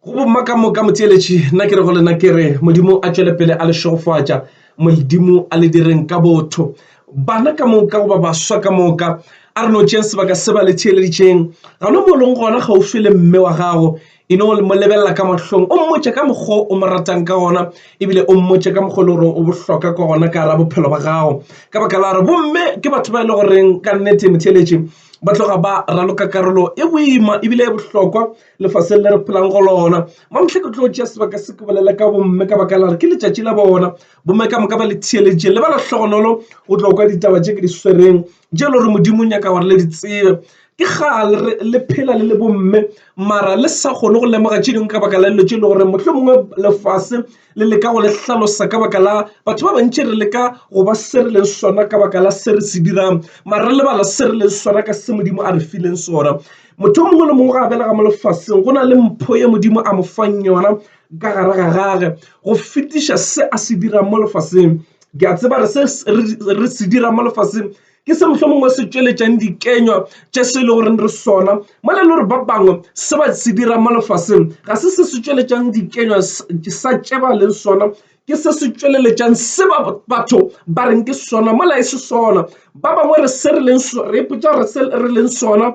go bomma ka moka motheeletši nna ke re go lena ke re modimo a tšwele pele a le šegofatša modimo a le direng ka botho bana ka moka goba baswa ka moka a re no tšeng sebaka se ba le theeleditšeng ga no mo leng gona gaufi le mme wa gago e no mo lebelela ka mahlong o mmotše ka mokgwa o mo ratang ka gona ebile o mmotše ka mokgwa e le gore o bohloka ka gona ka ra bophelo ba gago ka baka la gore bomme ke batho ba e le goreng ka nnete motheeletši ba tloga ba raloka karolo e boima ebile e bohlokwa lefaseng le re phelang go lona mamhle ke tlo tšea sebaka se ke bolela ka bomme ka baka la re ke letšatši la bona bomme ka moka ba le theeletše le ba la hlogonolo go tlo kwa ditaba tše ke di swereng je le gore modimo o nyaka gore le di tsebe ke gale re le phela le le bomme mara le sa kgone go lemoga tše dingwe ka baka la dilo tše e le gore mohlomongwe lefase le leka go le hlalosa ka baka la batho ba bantši re leka go ba se re leng sona ka baka la se re se dirang mara re lebala se re leng sona ka se modimo a re fileng sona motho o mongwe le mongwe ga a belega mo lefaseng go na le mpho ye modimo a mo fang yona ka gare ga gage go fetiša se a se dirang mo lefaseng ke a tseba re se re se dirang mo lefaseng Ke se mohlomongwe se tšweletšang dikenywa tše se le goreng re sona mola le gore ba bangwe se ba se dirang mo lefaseng ga se se se tšweletšang dikenywa sa tše ba leng sona ke se se tšweleletšang se ba batho ba reng ke sona mola e se sona ba bangwe re se re leng re ipotša re se re leng sona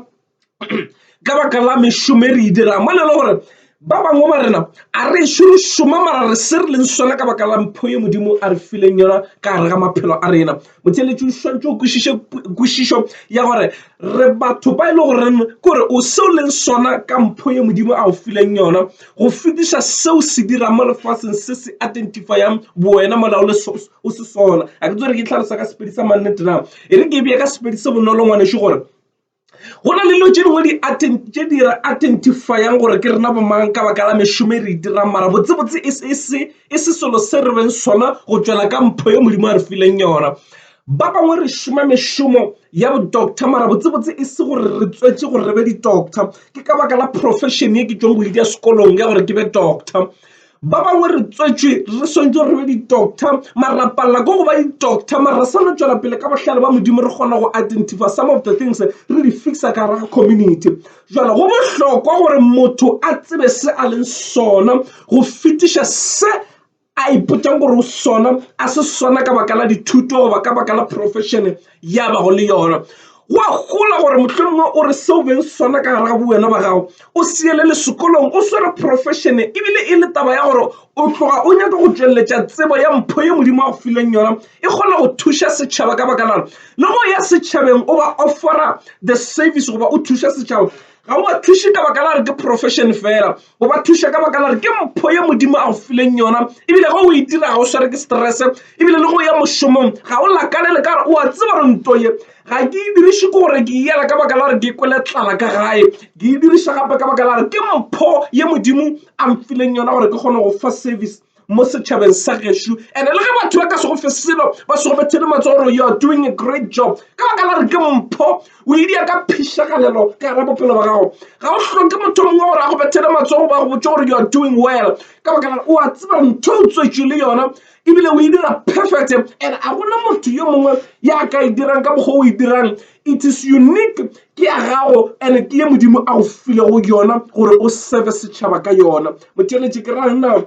ka baka la mešomo e re e dirang mo na le gore ba bangwe ba rena a re ešo re šoma mara re se re leng sona ka baka la mpho ye modimo a re fileng yona ka gare ga maphelo a rena motheletši o swantse o kwešišo ya gore re batho ba e le goreng ke gore o seo leng sona ka mpho ye modimo a o fileng yona go fetiša seo se dirang mo lefatsheng se se identifyang bowena mola o le o se sona a ke tsere ke tlhalosa ka sepedi sa mannete na e re ke bja ka sepedi se bonolo ngwaneše gore Go na le dilo tše dingwe tše di re identify-ang gore ke rena bomang ka baka la mešomo e re e dirang mara botsebotse e se selo se re beng sona go tšwela ka mpho ye Modimo a re fileng yona. Ba bangwe re šoma mešomo ya bo doctor mara botsebotse e se gore re tswetše gore re be di doctor ke ka baka la profession ye ke tšwago go e dira sekolong ya gore ke be doctor. Ba bangwe re tswetšwe re swantšwe re be ditokta, mara ra palela ke go ba ditokta. Mara re swanela tšwela pele ka bohlale ba Modimo, re kgona go identifya some of the things re di fixa ka gare ga community. Jwale go bohlokwa gore motho a tsebe se a leng sona go fetiša se a ipotšang gore o sona, a se sona ka baka la dithuto goba ka baka la profession. ya bago le yona wa gola gore mohlomongwe o re seo beng sona ka gare ga bowena ba gago o seele le sekolong o swere profession ebile e le taba ya gore o tloga o nyaka go tšweletša tsebo ya mpho ye modimo wa go fileng yona e kgona go thuša setšhaba ka baka lana le go ya setšhabeng o ba offera the service goba o thuša setšhaba ga o ba thuše ka baka la re ke profession fela o ba thuša ka baka la gore ke mpho ye modimo a go fileng yona ebile ge o e dira ga o sware ke stress ebile le go ya mošomong ga o lakalele ka gore o a tseba gore nto ye ga ke e diriše ke gore ke yela ka baka la gore ke kwele tlala ka gae ke e diriša gape ka baka la gore ke mpho ye modimo a mfileng yona gore ke kgone go fa service mo setšhabeng sa gešo ande le ge batho ba ka sego fe selo ba sego bethele matso gore you are doing a great job ka baka la re ke mpho o edia ka phišagalelo ka gara bophelo ba gago ga o hloke motho mongwe gore a go bethele matsogo ba go botse gore you are doing well ka baka la o a tseba ntho o tswetše le yona ebile o e dira perfect and a gona motho yo mongwe ya ka e dirang ka mokgwa o e dirang it is unique ke ya gago and ke ye modimo a o filego yona gore o sebe setšhaba ka yona motšweletši ke rana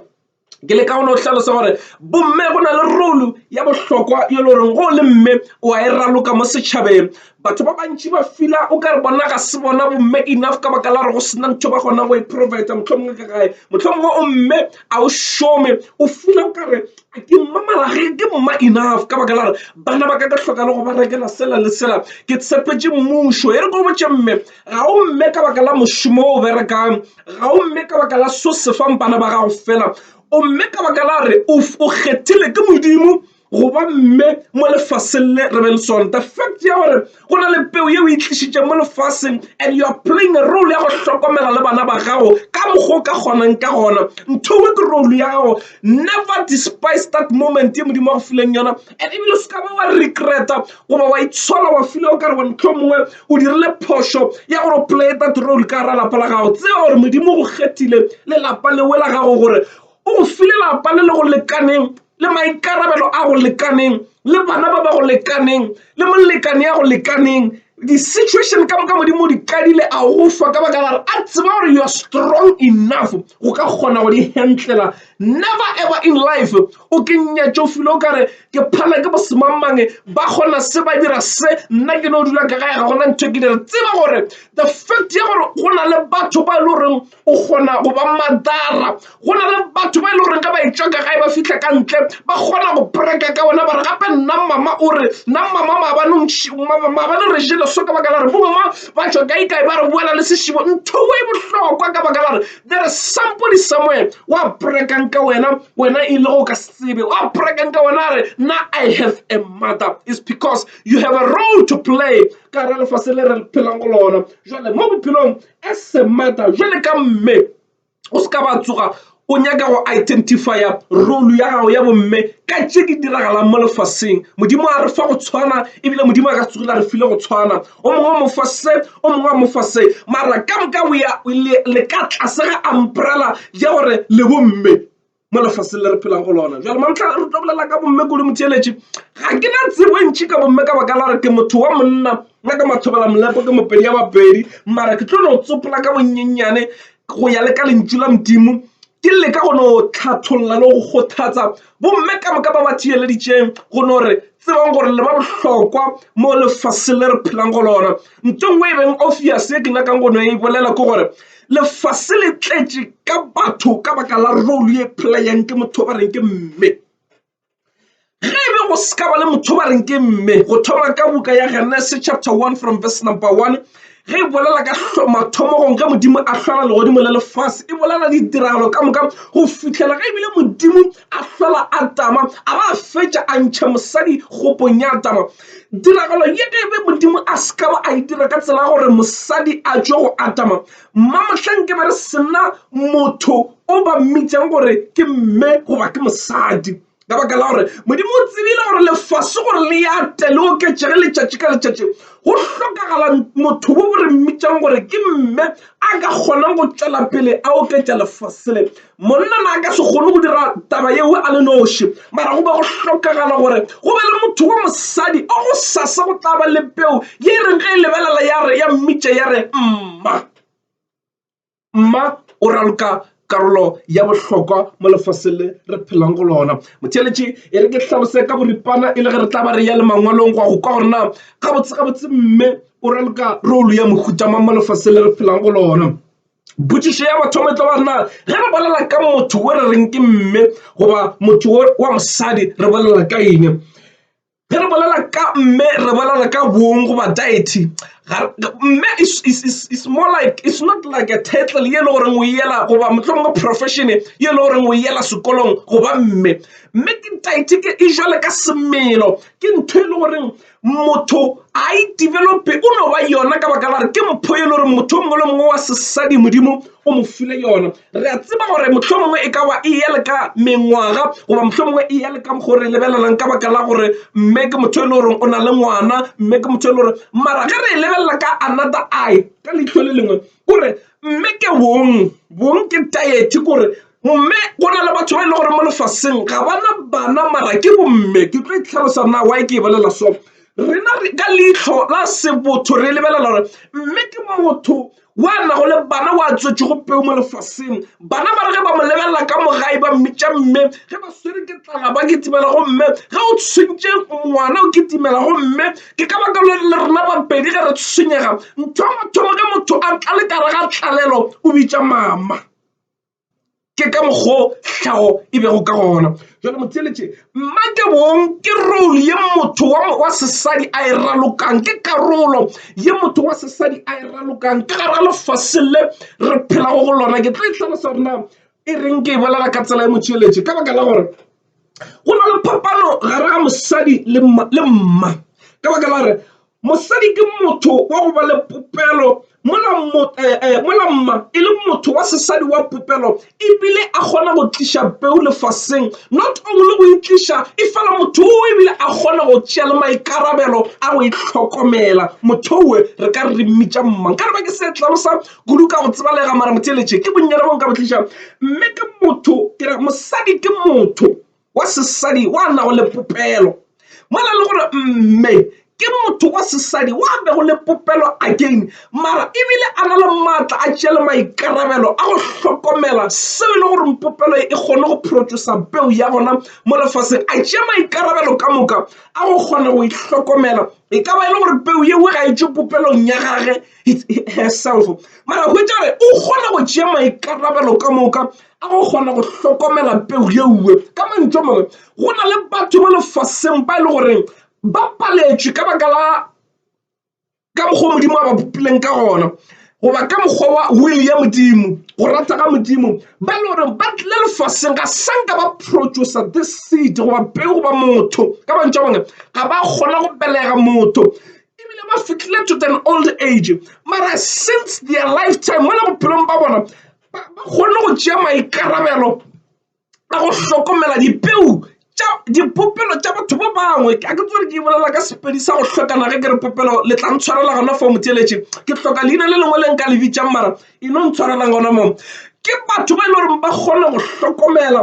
ke le ka gona o hlalosa gore bomme go na le rolo ya bohlokwa yo le goreng go le mme o a e raloka mo setšhabeng batho ba bantši ba fila o ka re bona ga se bona bomme enough ka baka la gore go sena ntho ba kgona go e provide motlhomongwe ka gae motlhomongwe o mme a o šome o fila o kare Ke mma mara ge ke mma enough ka baka la gore bana ba ka ka hloka le go ba rekela sela le sela ke tshepetše mmušo e re ko botše mme ga o mme ka baka la mošomo o berekang ga o mme ka baka la so se fang bana ba gago fela o mme ka baka la re o kgethile ke modimo goba mme mo lefaseng le re be le sone the fact ya gore go na le peo yeo e tlišitšeng mo lefaseng and you are playing a role ya go hlokomela le bana ba gago ka mokgwa o ka kgonang ka gona ntho engwe ke role ya gago never despise that moment ye modimo wa go fileng yona and ebile se ka ba wa regreta goba wa itshola wa file o ka re wa ntlho mongwe o dirile phošo ya gore o play that role ka gara lapa la gago tseba gore modimo go kgethile le lapa lewe la gago gore o go file lapa le le go lekaneng le maikarabelo a go lekaneng le bana ba ba go lekaneng le molekane ya go lekaneng di-situation ka moka modimo di qadile a go fa ka baka lare a tseba gore you're strong enough go ka kgona go di handlela never ever in life o ke nyatšofile o kare ke phala ke bosemangmange ba kgona se ba dira se nna ke no dula ka gae ga gona ntho e ke dira tseba gore the fact ya gore go na le batho ba e le goreng o kgona go ba madara go na le batho ba e le goreng ka ba e tšwaka ga e ba fitlha ka ntle ba kgona go preka ka ona bare gape nna mama o re nna mama maabane re jele so ka baka la re bomma ba tšwa ka ikae ba re boela le sešimo ntho e bohlokwa ka baka la re there is somebody somewhere wa prekang ka wena wena e le go ka sebe wa prekang ka wena a re nna i have a mother is because you have a role to play ka re lefase le re phelang go lona jale mo bophelong A semata jwale ka mme, o se ka ba tsoga o nyaka go identifya role ya gago ya bomme ka tše di diragalang mo lefaseng. Modimo a re fa go tshwana, ebile Modimo a ka se tsogile a re file go tshwana. O mongwe o mofa se, o mongwe a mofa se, mara ka moka le ka tlase ga umbrella ya gore le bomme. mo lefaseng le re phelang go lona jalo mamotlha re tlo bolela ka bomme kudu motheeletše ga ke na tsebo e ntšhi ka bomme ka baka la gore ke motho wa monna nna ka mathobela molepo ke mopedi ya bapedi mara ke tlo no tsopola ka bonnyenyane go ya le ka lentšu la modimo ke leka go no tlhatholola le go kgothatsa bomme ka moka ba ba theeleditšeng go no re tsebang gore le ba bohlokwa mo lefaseng le re phelang go lona nto ngwe e beng obvious e ke nyakang go no e bolela ke gore lefase le tletše ka batho ka baka la role ye playang ke motho ba reng ke mme ge e be go se ka ba le motho ba reng ke mme go thoma ka buka ya genese chapter 1 from verse number 1 ge e bolela ka mathomogong ge modimo a hlola legodimo le lefase e bolela ditiragalo ka moka go fitlhela ge ebile modimo a hlola a tama a ba a fetša a ntšha mosadi kgopong ya tama tiragalo ye ge be modimo a se ka ba a e dira ka tsela ya gore mosadi a tšwe go atama mmamohleng ke be re sena motho o ba mmitšang gore ke mme goba ke mosadi ka baka la gore modimo o tsebile gore lefase gore le ya te le oketšege letšatši ka letšatši go hlokagala motho wo bo re mmitšang gore ke mme a ka kgonang go tšwela pele a oketša lefase le Monna na a ka se kgone go dira taba yeo a le noši, mara go be go hlokagala gore go be le motho wa mosadi o go sasa go tla ba le peu ye e reng ge e lebelela ya re ya mmitša ya re, Mma. Mma o raloka karolo ya bohlokwa mo lefaseng le re phelang go lona. Motheeletši e re ke hlalose ka boripana e le ge re tla ba re ya le mangwalong go a go kwa gore na gabotsegabotse mme o raloka rolo ya mohuta mang mo lefaseng le re phelang go lona. Potšišo ya mathomo e tlo ba na ge re bolela ka motho o re reng ke mme goba motho wa mosadi re bolela ka eng ge re bolela ka mme re bolela ka bong goba diety mme is more like it's not like a title ye le goreng o yela goba motlhong mo profession ye le goreng o yela sekolong goba mme mme ke diety ke e jwale ka semelo ke ntho e le goreng motho a e develope o no ba yona ka baka la re ke mpho e le gore motho mongwe le mongwe wa sesadi modimo o mo file yona re a tseba gore motlho mongwe e ka ba e ya le ka mengwaga goba motlho mongwe e ya le ka mokgwa re lebelelang ka baka la gore mme ke motho e le goreng o na le ngwana mme ke motho e le gore mara ge re e lebelela ka another eye ka leitlho le lengwe kore mme ke bong bong ke diet kore Gomme go na le batho ba e le gore mo lefaseng ga bana bana mara ke bomme ke tlo itlhalosa na wa e ke e bolela so rena ka leitlho la sebotho re lebelela gore mme ke motho wa nago le bana wa tswetše go peu mo lefaseng bana ba re ge ba mo lebelela ka mogae ba mmitša mme ge ba swere ke tlala ba kitimela go mme ge o tshwentše ngwana o kitimela go mme ke ka baka le rena babedi ge re tshwenyega ntho ya mathomo ge motho a tla le kare ga tlalelo o bitša mama ke ka mokgwa o tlhago e bego ka gona jalo motheletše mmake bong ke role ye motho wa sesadi a e ralokang ke karolo ye motho wa sesadi a e ralokang ka gara lefase le re phelago go lona ke tlo itlhalosa gore na e reng ke e bolela ka tsela ya motšheletše ka baka la gore go na le phapano gare ga mosadi le mma ka baka la gore mosadi ke motho wa go ba le popelo mola eh, eh, mma e le motho wa sesadi wa popelo ebile a kgona go tliša peu lefaseng not only go itliša e fela motho o ebile a kgona go tšea le maikarabelo a go itlhokomela motho owe re ka re mmitša mmang ka re ba ke se tlalosa kudu ka go tsebalega mara motheeletše ke bonnyane bo nka bo tliša mme ke motho ke re mosadi ke motho wa sesadi wa nago le popelo mo na le gore mme ke motho wa sesadi wa bego le popelo akeng mara ebile a na le maatla a tšea le maikarabelo a go hlokomela seo e le gore popelo e kgone go phorotsosa peu ya gona mo lefaseng a tšea maikarabelo ka moka a go kgona go e hlokomela e ka ba e le gore peu yeo ga e tšwe popelong ya gage herself mara hwetša gore o kgona go tšea maikarabelo ka moka a go kgona go hlokomela peu yeuwe ka mantšu a mangwe go na le batho mo lefaseng ba e le goreng ba paletšwe ka baka la ka mokgwa modimo a ba bopileng ka gona goba ka mokgwa wa will ya modimo go rata ga modimo ba e le gore ba tlile lefaseng ga sanka ba producer the seed goba peu goba motho ka mantšu a bone ga ba kgona go belega motho ebile ba fitlhile to an old age mara since their lifetime mo le bophelong ba bona ba kgonne go tšea maikarabelo a go hlokomela dipeu tša dipopelo tša batho ba bangwe a ke tsere ke bolela ka sepedi sa go hlokana ge ke re popelo le tla ntshwarela gona fo motheletše ke hloka leina le lengwe le nka le bitšang mara e no ntshwarelang gona moo ke batho ba e le goreng ba kgone go hlokomela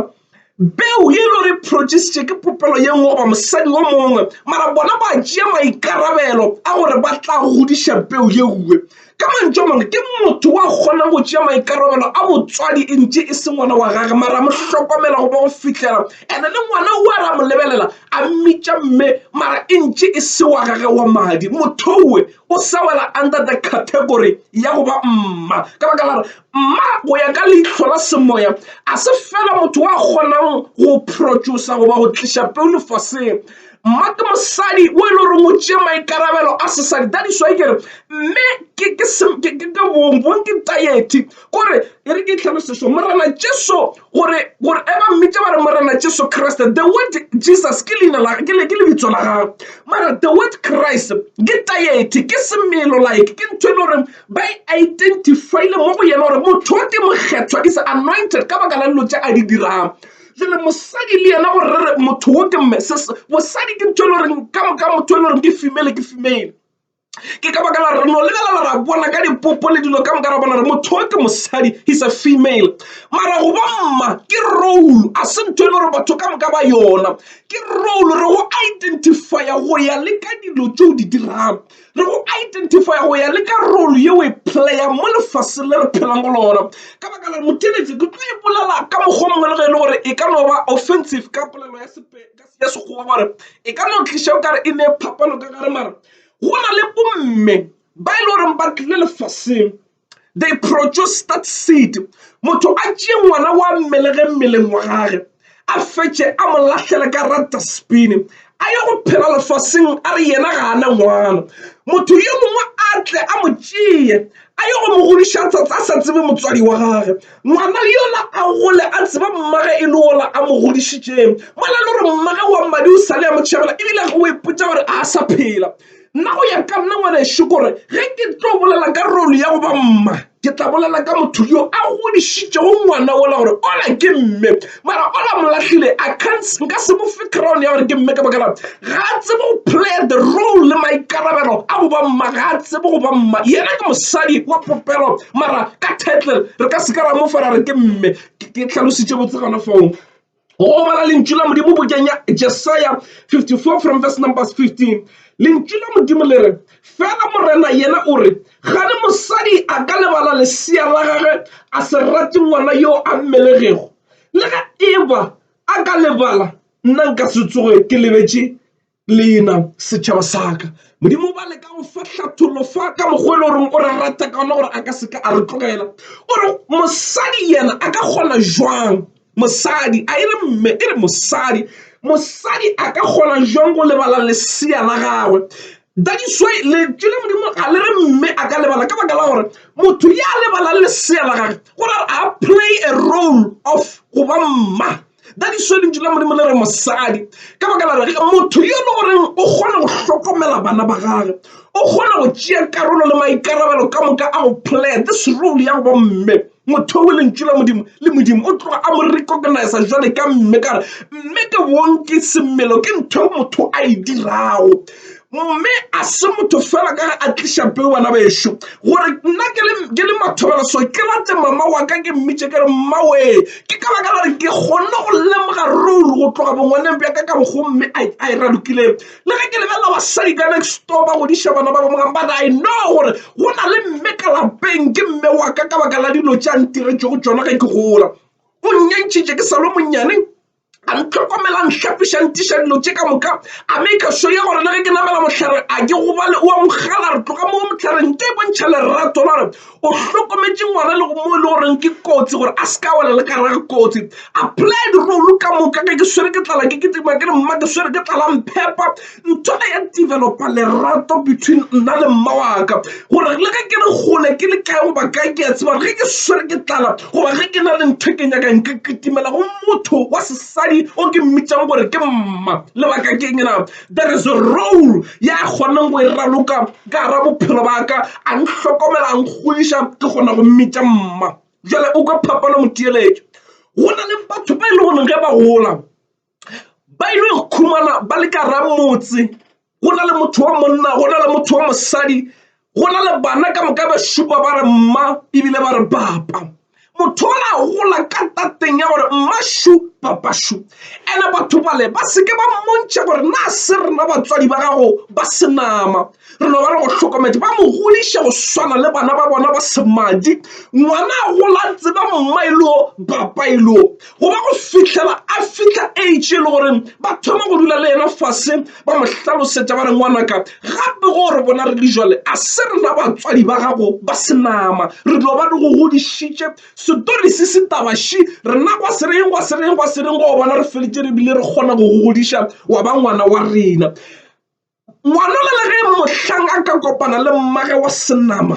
Peu ye e lo re protšisitše ke popelo ye nngwe goba mosadi wo mongwe, mara bona ba tšea maikarabelo a gore ba tla godiša peu ye nngwe. Ka mantšu a mangwe, ke motho wa kgonang go tšea maikarabelo a botswadi e ntše e se ngwana wa gage, mara mo hlokomela goba go fihlela ene le ngwana wo a re a mo lebelela a mmitša mme, mara e ntše e se wa gage wa madi. Motho yowe o sa wela under the category ya go ba mma ka baka la gore Mma go ya ka leihlo la semoya a se fela motho wa kgonang go protšosa goba go tliša peu lefaseng mma ke mosadi o e le goreng o tšee maikarabelo a sesadi that is why kere mme ke bong bong ke tayeti kore e re ke tlhaloseso morena jesu gore gore e ba mmitša ba re morena jesu kriste the word jesus ke leina la ke le ke lebitso la gagwe mara the word christ ke tayeti ke semelo like ke ntho e le goreng ba e identifile mo go yena gore motho o ke mokgethwa is anointed ka baka la dilo tše a di dirago jale mosadi le yena gore re re motho o ke mosadi ke ntho e le goreng ka moka motho e le goreng ke female ke female ke ka baka la re no lebelela ra bona ka dipopo le dilo ka moka ra bona re motho o ke mosadi he's a female mara go ba mma ke role a se ntho e le gore batho ka moka ba yona ke role re go identifya go ya le ka dilo tse o di dirago le go identifya go ya le ka role ye o e playa mo lefaseng le re phelang go lona ka baka la moteletše ke tlo ipolela ka mokgwa mongwe le ge e le gore e ka no ba offensive ka polelo ya Sekgowa gore e ka no tliša o kare e ne phapano ka gare mare go na le bomme ba e le goreng ba tlile lefaseng they produce that seed motho a tšee ngwana wa mmelege mmeleng wa gage a fetše a mo lahlele ka ra dustbin a ye go phela lefaseng a re yena ga a na ngwana motho yo mongwe a tle a mo tšee a ye go mo godiša tsatsa a sa tsebe motswadi wa gage ngwana yola a gole a tseba mmage e le ola a mo godišitšeng mola le gore mmage wa mmadi o sale ya mo tšhabela ebile go ipotsa gore a sa phela Nna go ya ka nna ngwanešu kore ge ke tlo bolela ka role ya go ba mma ke tla bolela ka motho yo a godišitšego ngwana ola gore ola ke mme mara ola molahlile a cants nka se mo fe crown ya gore ke mme ka baka la ga a tsebe go play the role le maikarabelo a go ba mma ga a tsebe go ba mma yena ke mosadi wa popelo mara ka title re ka se ka ra mo fara re ke mme ke tlhalositše botse gona foo. go gobala lentšu la modimo bokeng ya jesaya 54 from verse numbers 15 lentšu la modimo le re fela morena yena o re gane mosadi a ka lebala lesea la gage a se rate ngwana yo a mmelegego le ge eba a ka lebala nna nka se tsoge ke lebetše Lena setšhaba sa ka. Modimo o ba leka go fa hlathollo fa ka mokgwa e le goreng o re rata ka ona gore a ka seka a re tlogela o re mosadi yena a ka kgona jwang mosadi a e re mme e re mosadi mosadi a ka kgona jwang go lebala lesea la gagwe that is why lentswe la modimo ga le re mme a ka lebala ka baka la gore motho ya lebalang lesea la gagwe go ra a play a role of go ba mma ka diso lentšu la modimo le re mosadi ka baka la rege motho yo le goreng o kgona go hlokomela bana ba gage o kgona go tšea karolo le maikarabelo ka moka a go play this role ya go bomme motho o lentšu la modimo le modimo o tloga a mo recognize jwale ka mme ka re mme ke bong ke semelo ke ntho motho a e dirago Mme a se motho fela ka ge a tliša peu bana bešo gore nna ke le mathobela so ke late mama wa ka ke mmitše ke re mmawee ke ka baka la re ke kgonne go lemoga role go tloga bongwaneng bja ka ka bogomme a e ralokileng le ge ke lebelela basadi ka next door ba godiša bana ba bangwe but i know gore go na le mme ka lapeng ke mme wa ka ka baka la dilo tša ntiretšego tsona ge ke gola o nnyantšhitše ke sa lo monnyane a ntlhokomelang hlapišang tiša dilo tše ka moka a me ka sure gore le ge ke namela mohlare a ke gobale o a mogala re tloga mo mohlare nke e bontšha lerato la gore o hlokometše ngwana le go mo e le goreng ke kotsi gore a se ka wela le kara kotsi a played role ka moka ge ke swere ke tlala ke kitima ke re mma ke swere ke tlala mphepa ntho ne ya developa lerato between nna le mma waka gore le ge ke le gole ke le kae goba kae ke a tseba gore ge ke swere ke tlala goba ge ke na le ntho ke nyakang ke kitimela go motho wa sesadi o ke mmitšang gore ke mma lebaka ke eng na there is a role ya kgonang go e raloka ka gara bophelo baka a ntlhokomela a nkgodiša ke kgona go mmitša mma jale o ka phapano moteeletšo go na le batho ba e le goreng ge ba gola ba ile go khumana ba le ka ramotse go na le motho wa monna go na le motho wa mosadi go na le bana ka moka ba šupa ba re mma ebile ba re papa motho o la gola ka tateng ya gore mmashu papashu and-e batho bale ba seke ba mmontšha gore na se rena batswadi ba gago ba senama Re no ba le bohlokomedi ba mo godiša go swana le bana ba bona ba semadi. Ngwana a gola a tseba mma e leo papa e leo goba go fihlela a fihla age e le gore ba thoma go dula le yena fase ba mo hlalosetša ba re ngwanaka gape go re bona re le jwale a se rena batswadi ba gago ba senama re dilo ba di go godišitše setori se se tabaši rena gwa se reng gwa se reng gwa se reng go bona re feletše re bile re kgona go go godiša wa ba ngwana wa rena. Ngwanona le ge mohlang a ka kopana le mmage wa senama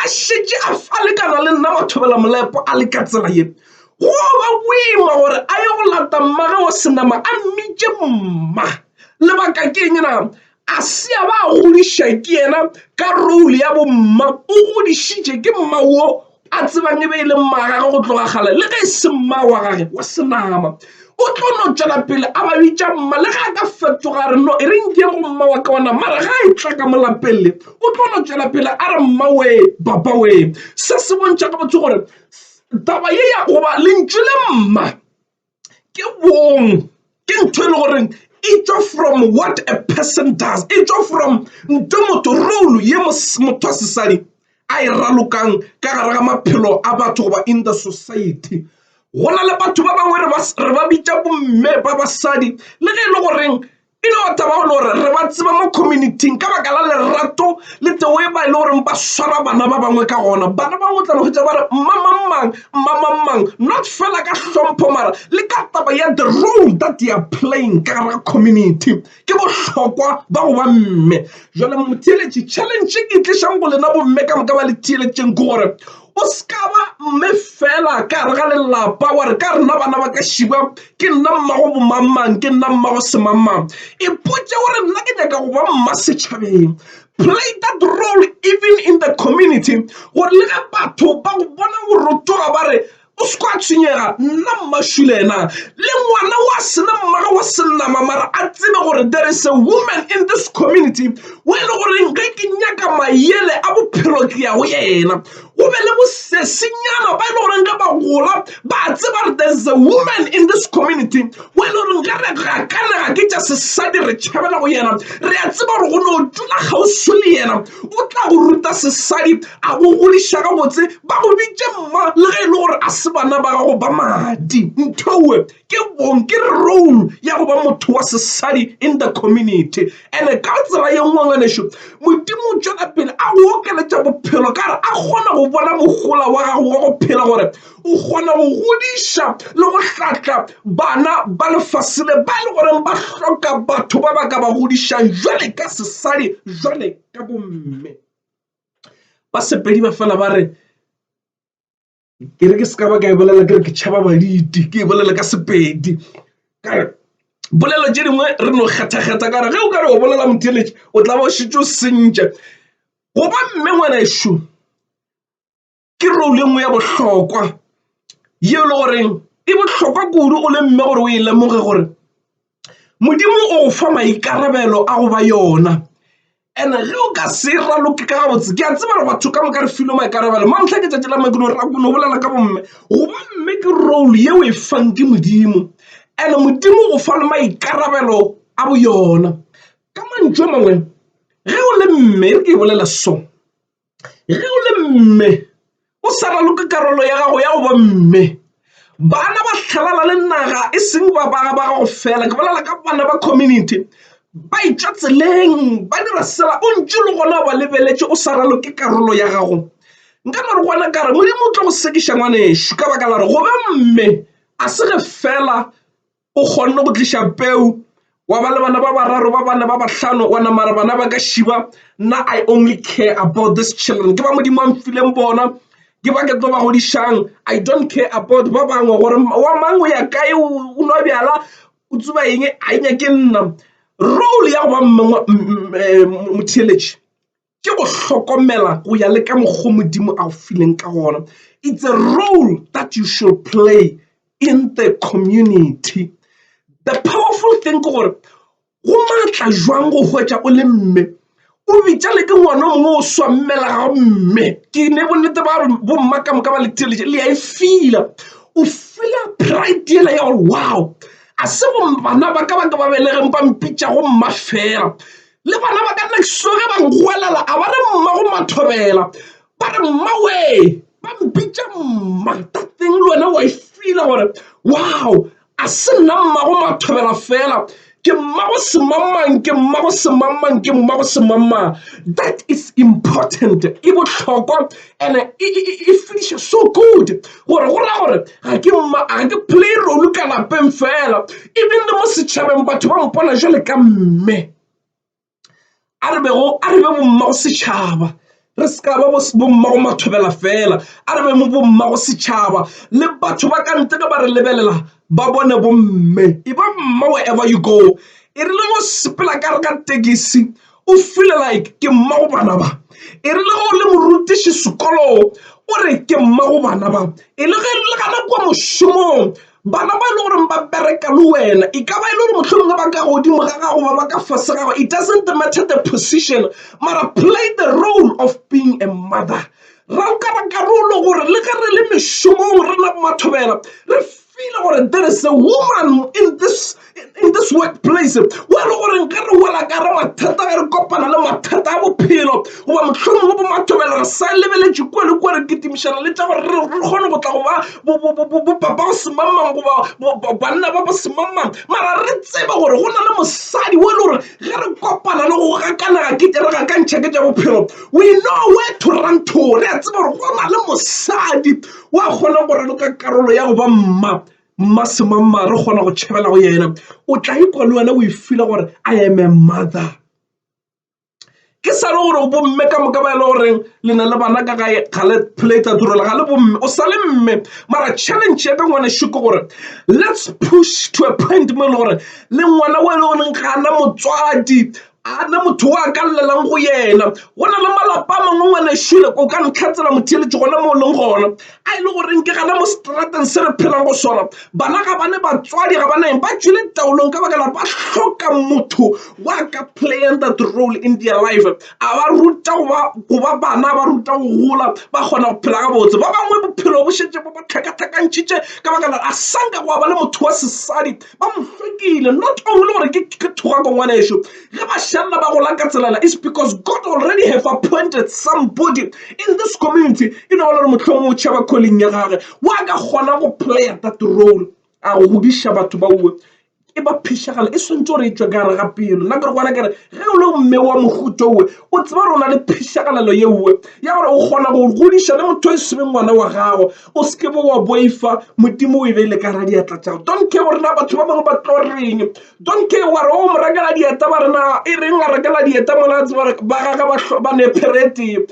a šetše a falekana le nna mathobela-molepo a le ka tsela ye, go yo ba boima gore a ye go lata mmage wa senama a mmitše mma. Lebaka ke eng na? A se a ba a godiša ke yena ka role ya bomma, o godišitše ke mma wo a tsebang e be e le mmagage go tloga kgale le ge e se mma wa gage wa senama o tlo no tšwela pele a ba bitša mma le ge a ka fetoga a re no e re nke go mma wa ka ona mara ga e tla ka molapele o tlo no tšwela pele a re mma wee papa wee se se bontšha ka botho gore taba ye ya goba lentšu le mma ke bong ke ntho e le goreng e tšwa from what a person does e tšwa from nto motho role ye motho wa sesadi a e ralokang ka gare ga maphelo a batho goba in the society go na le batho ba bangwe re ba bitša bomme ba basadi le ge e le goreng e no ba taba le gore re ba tseba mo communityng ka baka la lerato le teo e ba e le goreng ba swara bana ba bangwe ka gona bana bangwe o tla no fetsa ba re mmamangmang mmamangmang not fela ka hlompho mara le ka taba ya the role that they are playing ka gare ga community ke bohlokwa ba go ba mme jale motheeletše challenge e tlišang go lena bomme ka moka ba le theeletšeng ke gore O se ka ba mme fela ka gare ga lelapa wa re ka rena bana ba ka šiba ke nna mmago bomangmang ke nna mmago semangmang ipotse o re nna ke nyaka go ba mma setšhabeng play that role even in the community gore le ge batho ba go bona go rotoga ba re o se kwa tshwenyega nna mmašule ena le ngwana wa sena mmago wa senama mara a tsebe gore there is a woman in this community o e le goreng ge ke nyaka mayele a bophelo ke ya go yena o be le bosesenyana ba e le goreng ge ba gola ba tseba re there is a woman in this community o e le goreng ge re gakanega ke tša sesadi re tšhabela go yena re a tseba gore go ne o tula kgauswi le yena o tla go ruta sesadi a go godiša gabotse ba go bitše mma le ge e le gore a se bana ba gago ba madi nthoe ke bong ke role ya go ba motho wa sesadi in the community and-e ka tsela ye nngwe ngwaneso modimo o tšwela pele a go okeletša bophelo ka gore a kgona go bona mogola wa gago wa go phela gore o kgona go godiša le go hlatla bana ba lefase le ba e le goreng ba hloka batho ba ba ka ba godišang jwale ka sesadi jwale ka bomme ba sepedi ba fela ba re ke re ke se ka ba ka e bolela ke re ke tšhaba baditi ke e bolela ka sepedi kare bolelo tše dingwe re no kgathakgatha kare ge o ka re o bolela motheletše o tla ba o šetše o sentša goba mme ngwana ešo ke role nngwe ya bohlokwa yeo e le goreng e bohlokwa kudu o le mme gore o e lemoge gore Modimo o fa maikarabelo a go ba yona and ge o ka se raloke ka gabotse ke a tseba re batho ka moka re filwe maikarabelo mantlha ke tšatši la make no ra kono bolela ka bomme goba mme ke role yeo e fang ke modimo and modimo o fa le maikarabelo a bo yona ka mantšu a mangwe ge o le mme re ke e bolela so Ge o le mme, o sa raloke karolo ya gago ya go ba mme. Bana ba hlalana le naga e seng ba ba gago fela, ke bolela ka bana ba community. Ba etšwa tseleng, ba dira sela o ntše le gona o ba lebeletše o sa raloke karolo ya gago. Nka no re go wena ka re, Modimo o tlo go sekiša ngwanešu ka baka la gore go ba mme ga se ge fela o kgonne go tliša peu wa ba le bana ba bararo ba bane ba bahlano wa namara bana ba ka šiba nna i only care about this children ke ba modimo a mfileng bona ke ba ke tlo ba godišang i don't care about ba bangwe gore wa mang o ya kae o nwa bjala o tsuba eng a e nyake nna role ya go ba motheeletši ke go hlokomela go ya le ka mokgwa wo Modimo a go fileng ka gona. It's a role that you should play in the community. The powerful thing ke gore go maatla jwang go hwetša o le mme o bitša le ke ngwana o mongwe o swammela ga mme ke ne bonnete ba bomma ka moka ba le theletše le ya e fila o fila pride yela ya gore wow a se bana ba ka ba ka ba belegeng ba mpitša go mma fela Le bana ba ka nexo ge ba nkgwelela a ba re mma go mathobela ba re mmawee ba mpitša mma ka teng le wena wa e fila gore wow a se nna mma go mathobela fela ke mma go semangmang ke mma go semangmang ke mma go semangmang that is important e bohlokwa and-e e finiša so good gore go raya gore ga ke mma ga ke play role ka lapeng fela even le mo setšhabeng batho ba mpona jale ka mme a re bego a re be bommago setšhaba re se ka ba bommago mathobela fela a re be mo bommago setšhaba le batho ba ka ntle ge ba re lebelela ba bone bomme e ba mma wherever you go e rile go sepela ka re ka tekisi o feel like ke mmago bana ba e rile ge o le morutiši sekolong o re ke mmago bana ba e le ge le gana kwa mošomong bana ba e le goreng ba bereka le wena e ka ba e le gore mohlomongwe ba ka godimo ga gago ba ba ka fase gago it doesn't matter the position mara play the role of being a mother Ra o kara karolo gore le ge re le mešomong re na mathobela re file gore there is a woman in this, in this workplace o e le gore ge re wela ka re mathata ge re kopana le mathata a bophelo goba mohlomong go bomathobela re sa lebeletše kua le kua re kitimišana le tša gore re kgone go tla go ba bopapa ba semangmang goba banna ba ba semangmang mara re tsebe gore go na le mosadi o e le gore Ge re kopana le go gakanega ke tle re gakantšhe ke tša bophelo, we know where to run to. Re a tseba gore go na le mosadi wa kgona go raloka karolo ya go ba mma, mma semangmang re kgona go tšhabela go yena. O tla ikwa le wena o e feeler gore I am a mother. ke sa le gore bomme ka moka ba e le goreng le na le bana ka gae ga le plata turela ga le bomme o sa le mme mara challenge ya ka ngwane sho ke gore let's push to a point mo e le gore le ngwana o e le goreng ga ana motswadi ana motho o a ka llelang go yena go na le malapa a mangwe ngwane shole o ka ntlhatsela motheeletše gona mo o leng gona a e le goreng ke gana mo seterateng se re phelang go sona bana ga bane batswadi ga ba neng ba tšwele taolong ka bakela ba hloka motho wa ka playang that role in their life a ba ruta go ba bana ba ruta go gola ba kgona go phela gabotse ba bangwe bophelo bo šetše bo ba tlhakatlhakantšhitše ka bakela a sanka go ba le motho wa sesadi ba mo hlwekile not only gore ke ka thogako ngwaneso ge ba šalla ba gola ka tselana is because god already have appointed somebody in this community e no ba le gore mohlomong o tšhaba calling ya gage wa ka kgona go playa that role a go godiša batho ba uwe e ba phišagala e swantse gore e tswe ka gare ga pelo nna kere gona kere ge o le mme wa mohuto uwe o tseba gore o na le phišagalelo ye uwe ya gore o kgona go godiša le motho e sebe ngwana wa gago o se ke be wa boifa modimo o e beile ka ra diatla tša don't care gore na batho ba bangwe ba tlo reng don't care wa re o mo rakela dieta ba rena e reng a rakela dieta mona a tseba ba gaga ba nepherete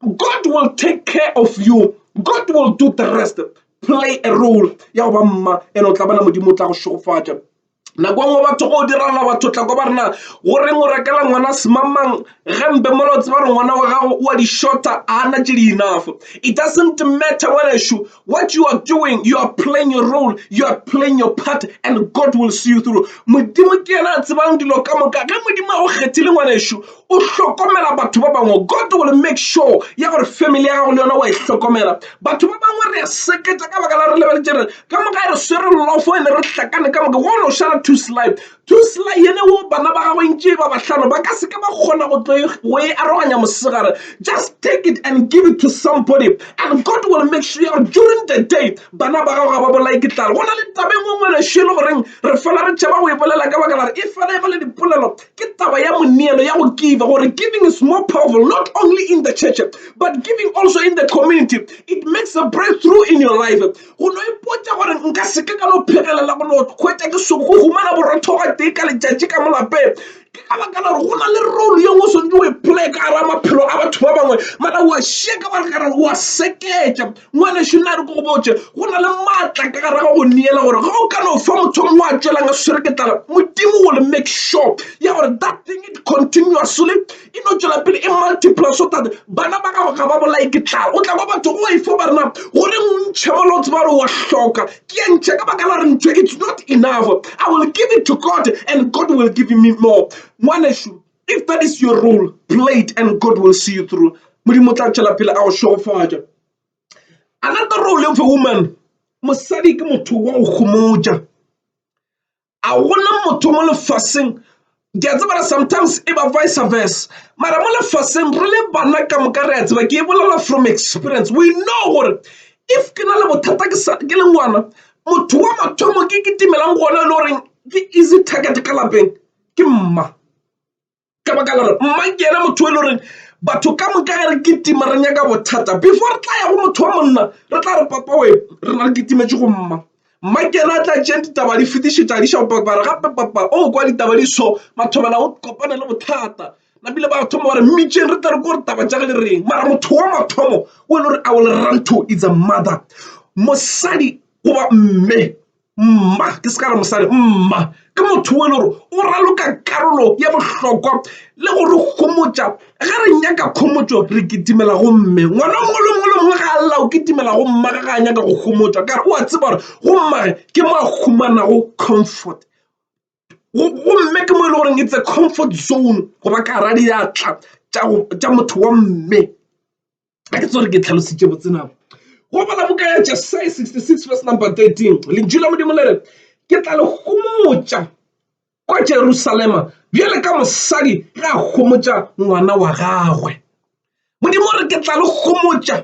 god will take care of you god will do the rest play a role ya go ba mma ene o tla bona modimo o tla go šogofatša nako nngwe batho go direla batho tla ko ba rena go reng o rekela ngwana semamang gempe mola o tseba re ngwana wa gago o a di-shorter a na tše di enough it doesn't matter ngwanešu what you are doing you are playing your role you are playing your part and god will see you through modimo ke yena a tsebang dilo ka moka ge modimo a go kgethile ngwanešu o hlokomela batho ba bangwe god will make sure ya gore family ya gago le yona wa e hlokomela batho ba bangwe re a seketsa ka baka la re lebeletše re ka moka re swere lofo ene re hlakane ka moka go no šala two slide two slide yene wo bana ba gagwe ntše ba bahlano ba ka seke ba kgona go tlo e, go e aroganya mosegare just take it and give it to somebody and god will make sure ya gore during the day bana ba gago ga ba bolae ke tlale go na le tabeng ngwe ngwe lešo e le goreng re fela re tšhaba go e bolela ka baka la re e fela e go le dipolelo Ke taba ya moneelo ya go giva gore giving is more powerful not only in the church but giving also in the community. It makes a breakthrough in your life. Go no ipotša gore nka se ke ka no phegelela go no hwetša ke soko go humana borothoga tee ka letšatši ka mo lapeng ke ka baka la gore go na le role ye nngwe o swanetše o e play ka gara maphelo a batho ba bangwe mara wa šeka wa re o a seketša ngwanešu nna re ko go botse go na le maatla ka gare ga go neela gore ga o ka no fa motho o mongwe a tswelang a swere ke tlala modimo o le make sure ya gore that thing it continuously e no tswela pele e multiple so that bana ba gago ga ba bolae ke tlala o tla kwa batho go e fo ba rena gore ntšhe mola o tseba gore wa hloka ke ya ntšhe ka baka la re ntho it's not enough i will give it to god and god will give me more ngwanešu If that is your role, play it and God will see you through. Modimo tla tšwela pele a go šegofatša. Another role of a woman, mosadi ke motho wa go gomotša. A gona motho mo lefaseng ke a tsebara sometimes e ba vice versa mara mo lefaseng re le bana ka moka re a tseba ke e bolela from experience we know gore if ke na le bothata ke le ngwana motho wa mathomo ke ke timelang gona e le goreng ke easy target ka lapeng ke mma ka baka la gore mma ke yena motho e le goreng batho ka moka ge re kitima re nyaka bothata before re tla ya go motho wa monna re tla re papa we re na re kitimetše go mma mma ke yena a tla tšeng ditaba di fetišetša di šao papa re gape papa o oh, kwa ditaba di so mathomela o kopane le bothata napile ba thoma gore mmitšeng re tla re ko gore taba tša ge le reng mara motho wa mathomo o e le gore a o le ranto is a mother mosadi goba mme Mma, ke se ka re mosadi, mma ke motho wo e le gore o raloka karolo ya bohlokwa le go re homotša ge re nyaka khomotšo re kitimela go mme ngwana mongwe le mongwe le mongwe ga a lla o kitimela go mma ga ga a nyaka go homotšwa kare o a tseba gore go mmage ke mo a humanago comfort gomme ke mo e le goreng it's a comfort zone go ba ka radiatla tša motho wa mme. a ke tsere ke tlhalositše botse nako go bala boka ya jesaya 66 verse number 13 lentšu la modimo le re ke tla le gomotša kwa jerusalema bjale ka mosadi ga a gomotša ngwana wa gagwe modimo re ke tla le gomotša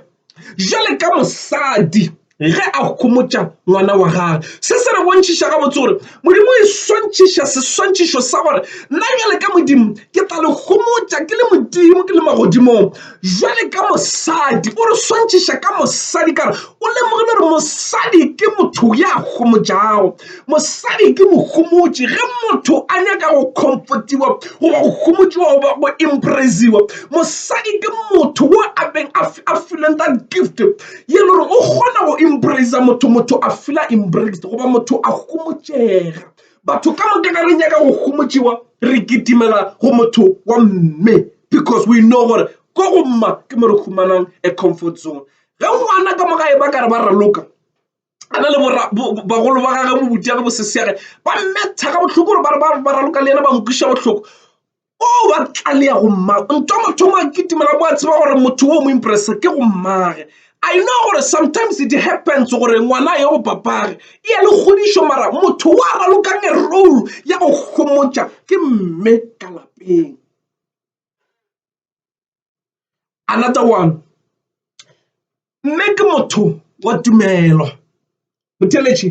bjale ka mosadi ge a homotša ngwana wa gage se se re bontšhiša gabotse gore modimo e swantšhiša seswantšhišo sa gore nna jale ka modimo ke tla le homotša ke le modimo ke le magodimong jale ka mosadi o re swantšhiša ka mosadi kare o lemogile gore mosadi ke motho ya homotšago mosadi ke mohomotši ge motho a nyaka go comfortiwa goba go homotšiwa goba go impresiwa mosadi ke motho wo a beng a fileng that gift ye le gore o kgona go embracea motho motho a fila embraced goba motho a homotšega batho ka moka ka re nyaka go homotšiwa re kitimela go motho wa mme because we know gore ko go mma ke mo re humanang a comfort zone ge ngwana ka moka e ba ka re ba raloka a na le bagolo ba gage bobutiage bosesege ba mmetha ka bohloko gore ba raloka le yena ba mokwiša bohloko o oh, wa tlaleya go mmago nto motho o makitimela mo a tseba gore motho o mo impressa ke go mmage i know gore sometimes it happens gore ngwana ye go papage e ya le kgodišo mara motho wa ralokang e role ya go gomotša ke mme ka lapeng another one mme ke motho wa tumelo motheletši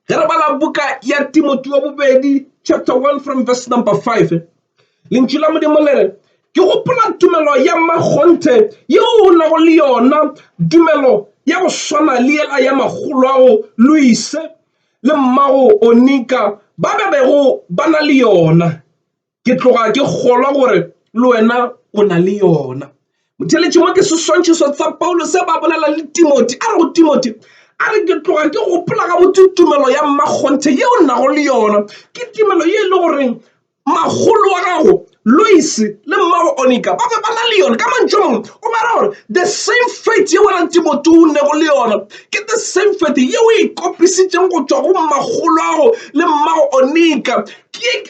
ge re bala buka ya timoti wa bobedi chapter 1 from verse number 5 lentšu la modimo le re ke gopola tumelo ya makgonthe yeo o nago le yona tumelo ya go swana le yela ya magolo ao luise le mmago onika ba be bego ba na le yona ke tloga ke kgolwa gore le wena o na le yona motheletši mo ke seswantšhiso tsa paulo se ba bolela le timoti a re go timoti a re ke tloga ke gopola ga botse tumelo ya mmakgonthe ye o nago le yona ke tumelo ye e le goreng magolo wa gago lois le mmago onika ba be ba na le yona ka mantšho mongwe o bara gore the same faith ye wena timoti o nego le yona ke the same faith ye o e kopisitseng go tswa go mmagolo wa gago le mmago onika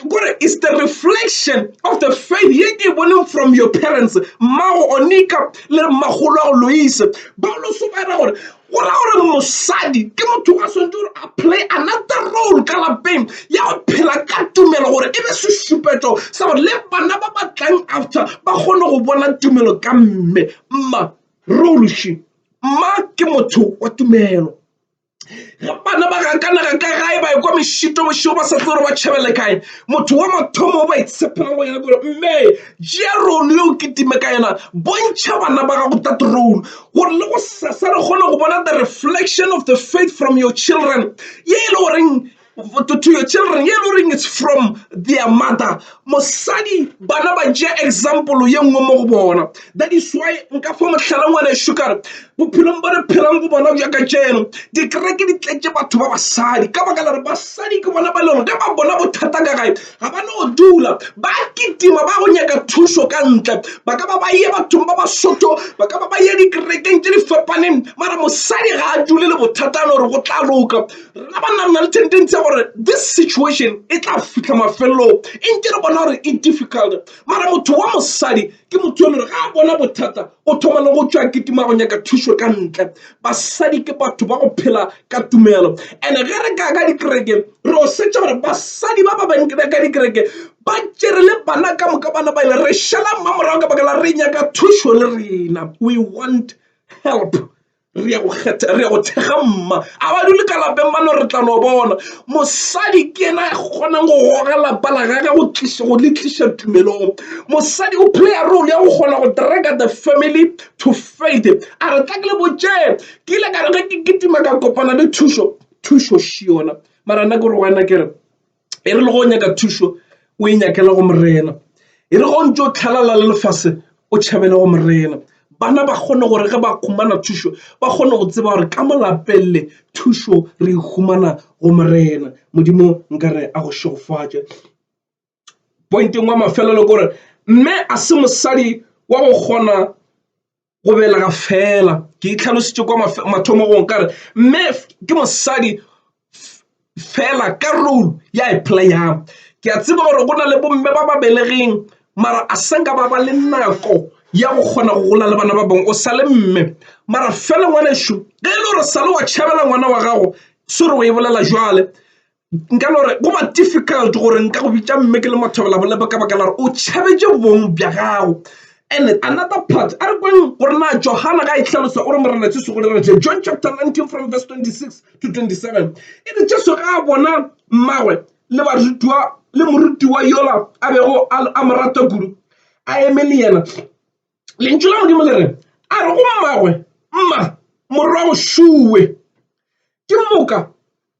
kore is the reflection of the faith ye ke e boneng from your parents mmago onika le mmagolo wa go loise ba loso ba era gore go ra gore mosadi ke motho a swantse gore a play another role ka lapeng ya go phela ka tumelo gore e be sešupetso sa gore le bana ba ba tlang after ba kgone go bona tumelo ka mme mma role she mma ke motho wa tumelo. bana ba gakanega ka gae ba ekwa mešito bošego ba sa tse gore ba tšhabele kae motho wa mathomo o ba itshepela go yena kore mme jea rolo yo o kitime ka yena bontšha bana ba gago that role gore le go sesa re kgone go bona the reflection of the faith from your children ye e le goreng to your children ye lo reng it's from their mother mosadi bana ba ja example ye nngwe mo go bona that is why nka fa mohlala ngwana sukare bophelong ba re phelang go bona bja ka jeno dikereke di tletse batho ba basadi ka baka lare basadi ke bona ba lego ge ba bona bothata ka gae ga ba no dula ba kitima ba go nyaka thušo ka ntle ba ka ba ba ye bathong ba basotho ba ka ba ba ye dikerekeng tse di fapaneng mara mosadi ga a dule le bothatano gore go tla loka Rena banna re na le tendency ya gore this situation e tla fitlha mafelelong e nke re bona gore e difficult mara motho wa mosadi ke motho yo le gore ga a bona bothata o thoma le go tšwa kitima go nyaka thušo ka ntle basadi ke batho ba go phela ka tumelo and ge re ka ka dikereke re o setša gore basadi ba ba bankina ka dikereke ba tšere le bana ka moka bana ba ile re šala mmamorago ka bakala re nyaka thušo le rena we want help re ya go kgetha re ya go thekga mma a ba dule ka lapeng ba no re tla no bona mosadi ke ena a kgonang go goga lapa la gage go tliša go le tliša tumelong mosadi o playa role ya go kgona go draka the family to faith a re tla ke le botšee ke ile ka re ge ke kitima ka kopana le thušo thušo šiona mara nna ke re wena ke re e re le go nyaka thušo o e nyakela go morena e re go ntse o tlhalala le lefase o tšhabele go morena bana ba kgone gore ge ba khumana thušo ba kgone go tseba gore ka molapelele thušo re humana go morena modimo nkare a go šegofatše pointeng wa mafelelo gore mme a se mosadi wa go kgona go belega fela ke itlhalositse kwa mathomogong ka re mme ke mosadi fela ka role ya e playang ke a tseba gore go na le bomme ba ba belegeng mara a senka ba ba le nako ya go kgona go gola le bana ba bangwe o sa le mme mara fela ngwanešu ge e le gore sa le wa tšhabela ngwana wa gago se re o e bolela jwale nka no re go ba difficult gore nka go bitša mme ke le mathobela bolebe ka baka la gore o tšhabetše bong bja gago and another part a re kweng gore na johana ga e hlalosa o re morena jesu go dira je john chapter 19 from verse 26 to 27 e re jesu ga a bona mmagwe le barutiwa le morutiwa yola a bego a mo rata kudu a eme le yena lentšu la modimo le re a re go mmagwe mma morwa o šuwe ke moka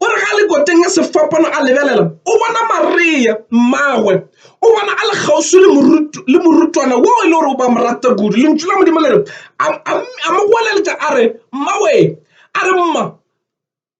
O re ga le koteng ya sefapano a lebelela, o bona Maria mmagwe. O bona a le kgauswi le morutwana wo e le gore o ba morata kudu. Lentšu la Modimo le re a mo goeletša a re, Mmawe! A re, Mma!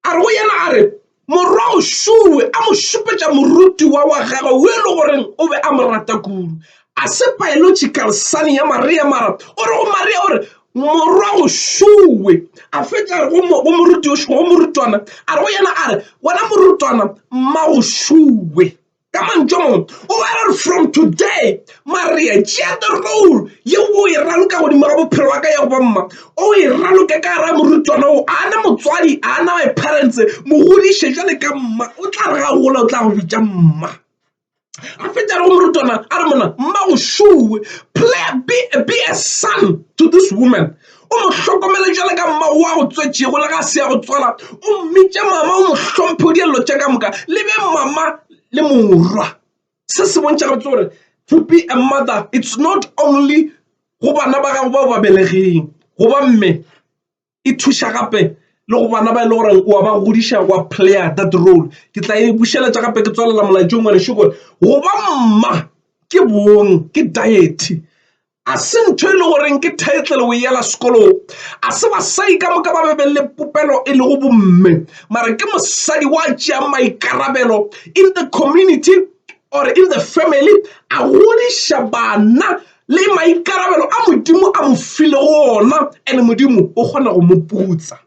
A re go yena a re, Morwago šuwe! A mo šupetša morutiwa wa gagwe wo e le goreng o be a mo rata kudu. A se paelotši karsane ya Maria mara o re go Maria o re, Morwa go šuwe a fetša go moruti yo šuwe, go morutwana a re go yena a re, Wena morutwana, mma go šuwe. Ka mantšu a mangwe, o be a re, From today, Maria, tšea the role ye o e raloka godimo ga bophelo wa ka ya go ba mma, o e raloke ka gare ga morutwana wo. A na motswadi, a na my parents, mo godiše jwale ka mma. O tla re ga a gola o tla go bitša mma. a fete a re go morutwana a re mona mmago šowe player be, be a son to this woman o mo hlokomele jale ka mmago wa go tswetšego le ga se ya go tswala o mmitše mama o mo hlomphe o dielelo tša ka moka le be mama le morwa se se bontšha gabotse gore to be a mother it's not only go bana ba gago bao ba belegeng goba mme e thuša gape le go bana ba e le gore wa ba godiša wa player that role ke tla e bušeletša gape ke tswalela molaetšong ngwanešu gore go ba mma ke bong ke diety a se ntho e le goreng ke title o yela sekolong a se basadi ka moka ba be be le popelo e lego bomme mara ke mosadi wa tšea maikarabelo in the community or in the family a godiša bana le maikarabelo a Modimo a mo filego ona, and Modimo o kgona go mo putsa.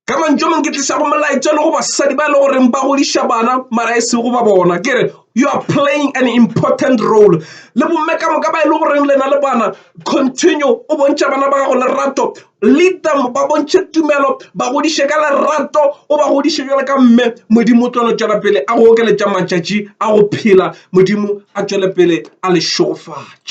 Ka mantšu a mang ke tliša go molaetša le go basadi ba e le goreng ba godiša bana mara e se go ba bona ke re you are playing an important role le bomme ka moka ba e le goreng lena le bana continue o bontšha bana ba gago lerato lead them ba bontšhe tumelo ba godiše ka lerato o ba godiše jalo ka mme modimo o tlo no tšwela pele a go okeletša matšatši a go phela modimo a tšwele pele a le šogofatša